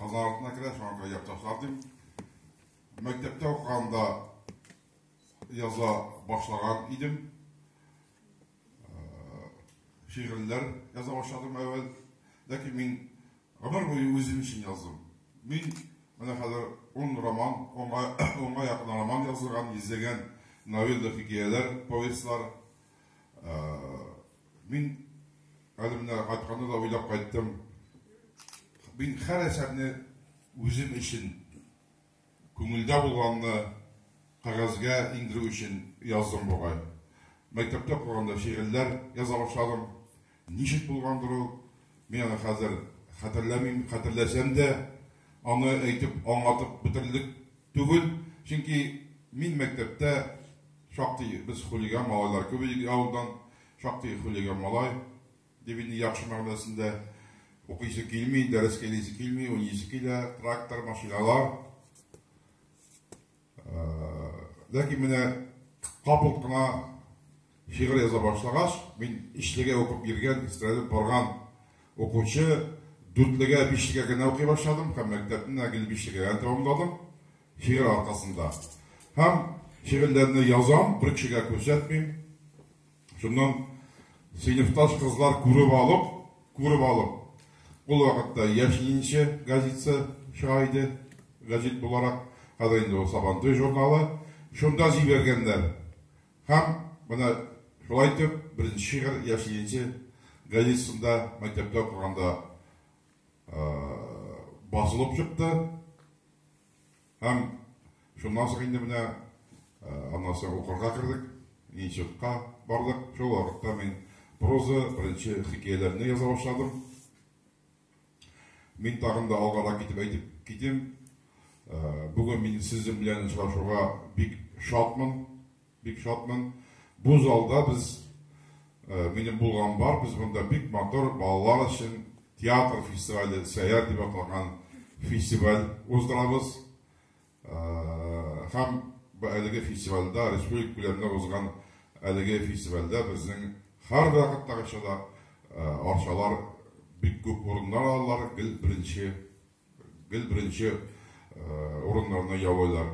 Казан артына керә, шуңа күрә якташлар дим. Мәктәптә укыганда яза башлаган идем. Шигырьләр яза башладым әвәл. Ләкин мин гомер буе үзем өчен яздым. Мин менә хәзер 10 роман, 10 якын роман язылган, 100 гән новелла, хикәяләр, повестьлар, Мин әле менә кайтканда да уйлап кайттым. Мин һәр әсәрне үзем өчен күңелдә булганны кәгазьгә иңдерү өчен яздым бугай. Мәктәптә укыганда шигырьләр яза башладым. Ничек булгандыр ул? Мин аны хәзер хәтерләмим, хәтерләсәм дә, аны әйтеп, аңлатып бетерерлек түгел. Чөнки мин мәктәптә Шактый без хулиган малайлар күп идек авылдан, шактый хулиган малай, дип инде яхшы мәгънәсендә, укыйсы килми, дәрескә йөрисе килми, уйныйсы килә, трактор, машиналар. Э, ләкин менә капыл гына шигырь яза башлагач, мин ишлегә укып йөргән, истрәлеп барган укучы дүртлегә, бишлегә генә укый башладым һәм мәктәпне гел бишлегә тәмамладым. Шигырь аркасында. Һәм шигырьләрне язам, бер кешегә күрсәтмим. Шуннан сыйныфташ кызлар күреп алып, күреп алып, ул вакытта Яшьлинче газетасы чыга иде, газет буларак, хәзер инде ул Сабантуй журналы, шунда җибәргәннәр. Һәм менә шулай итеп, беренче шигырь Яшьлинче газетасында мәктәптә укыганда басылып чыкты. Һәм шуннан соң инде менә аннан соң укырга кердек, институтка бардык. Шул вакытта мин проза, беренче хикәяләрне яза башладым. Мин тагын да алгарак китеп әйтеп китим. Бүген мин сезнең белән очрашуга бик шатмын. Бик шатмын. Бу залда без, минем булган бар, без монда бик матур балалар өчен театр фестивале, Сәяр дип аталган фестиваль уздырабыз. Һәм бу әлеге фестивальдә, республика күләмендә узган әлеге фестивальдә безнең һәр вакыттагыча да арчалар бик күп урыннар алалар, гел беренче, гел беренче урыннарны яулыйлар.